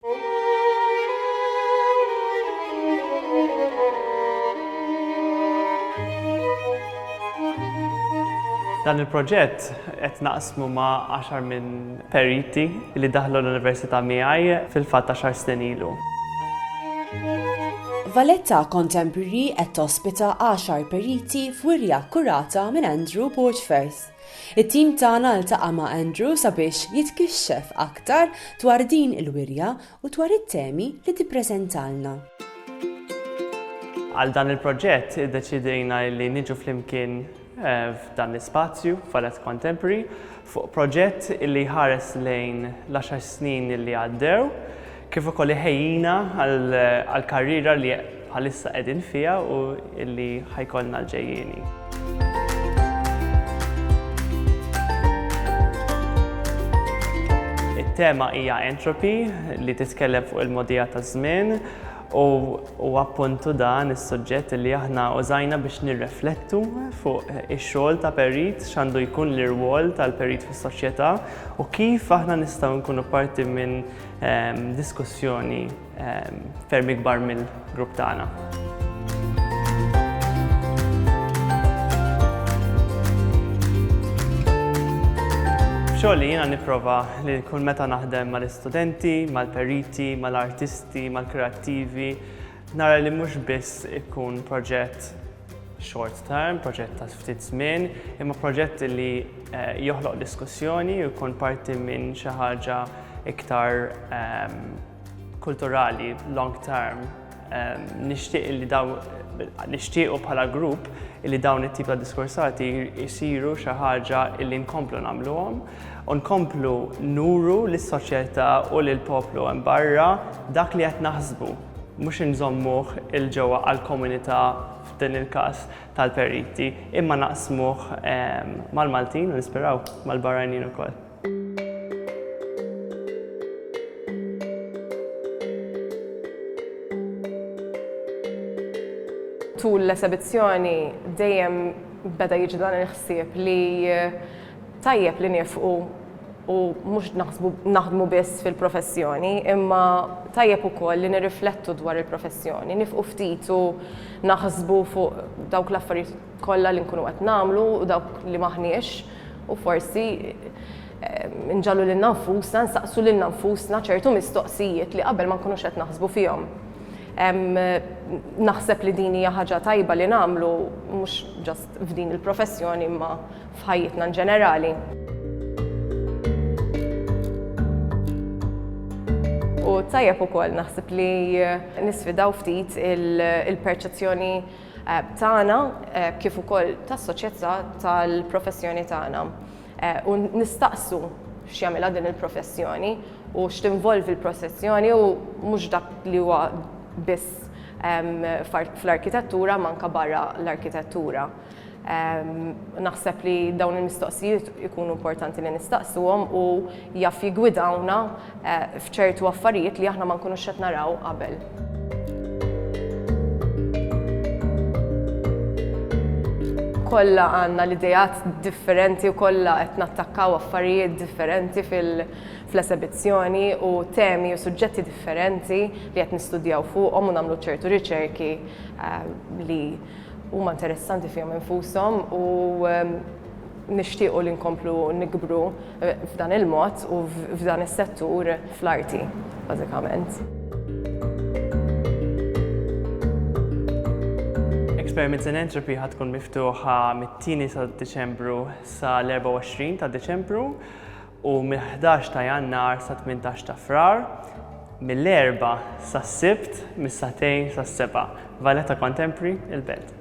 Dan il-proġett qed naqsmu ma' għaxar minn periti li daħlu l-Università miegħi fil-fatt għaxar snin ilu. Valletta Contemporary qed tospita għaxar periti f'wirja kkurata minn Andrew Borchfers. It-tim tagħna ltaqa' ma' Andrew sabiex jitkixxef aktar dwar din il-wirja u dwar it-temi li tippreżentalna. Għal dan il-proġett iddeċiedejna li niġu flimkien f'dan l-ispazju, Fallett Contemporary, fuq proġett li jħares lejn l-għaxar snin li għaddew, kif ukoll iħejjina għall-karriera li bħalissa qegħdin fiha u li ħa jkollna l-ġejjieni. It-tema hija entropy li titkellem fuq il-modija taż-żmien u huwa appuntu dan is-suġġett li aħna użajna biex nirreflettu fuq ix-xogħol ta' perit, x'għandu jkun l-irwol tal-perit fis-soċjetà u kif aħna nistgħu nkunu parti minn Diskussjoni ferm ikbar mill-grupp tagħna. Xogħol jiena nipprova li kull meta naħdem mal-istudenti, mal-periti, mal-artisti, mal-kreattivi, Nara li mhux biss ikun proġett short term, proġett ta' ftit żmien, imma proġett li eh, joħloq diskussjoni u jkun parti minn xi ħaġa iktar ehm, kulturali long term. Ehm, nixtieq li daw nixtiequ bħala grupp li dawn it-tip ta' diskursati jisiru xi ħaġa li nkomplu nagħmluhom u nkomplu nuru lis-soċjetà u lill-poplu hemm barra dak li qed naħsbu mhux inżommuh 'il ġewwa għall-komunità f'din il-każ tal-periti, imma naqsmuh mal-Maltin u nisperaw mal-barranin ukoll. Tul l-esebizzjoni dejjem beda jiġi dan il-ħsieb li Tajjeb li nifqu u mhux naħsbu naħdmu biss fil-professjoni, imma tajjeb ukoll li nirriflettu dwar il-professjoni, nifqu ftit u naħsbu fuq dawk l-affarijiet kollha li nkunu qed nagħmlu u dawk li m'aħniex u forsi nġagħlu lilna nfusna nsaqsu lilna nfusna ċertu mistoqsijiet li qabel ma nkunux qed naħsbu fihom. Naħseb li din hija ħaġa tajba li nagħmlu mhux just f'din il-professjoni imma f'ħajjitna in ġenerali. U tajjeb ukoll naħseb li nisfidaw ftit il-perċezzjoni eh, tagħna eh, kif ukoll tas-soċjetà tal-professjoni tagħna. Eh, u nistaqsu x'jagħmilha din il-professjoni u x'tinvolvi l-professjoni u mhux dak li huwa biss fl-arkitettura manka barra l-arkitettura. Naħseb li dawn il-mistoqsijiet ikunu importanti li nistaqsuhom u jaf jigwidawna eh, f'ċertu affarijiet li aħna ma nkunux qed naraw qabel. Kolla għandna l-idejat differenti u kollha qed nattakkaw affarijiet differenti fil- fl-esebizzjoni u temi u suġġetti differenti li qed nistudjaw fuqhom u nagħmlu ċertu riċerki eh, li Huma interessanti fihom infushom u nixtiequ li nkomplu nikbru f'dan il-mod u f'dan is-settur fl-arti, bażikament. Experiments in Entropy ħad tkun miftuħa mit-2 ta' Diċembru sa l-24 ta' Diċembru u mill-ħdax ta' Jannar sat-tmintax ta' Frar, mill-Erbgħa sas-Sibt mis-sagħtejn sas-sebgħa. Valletta Contemporary, il-Belt.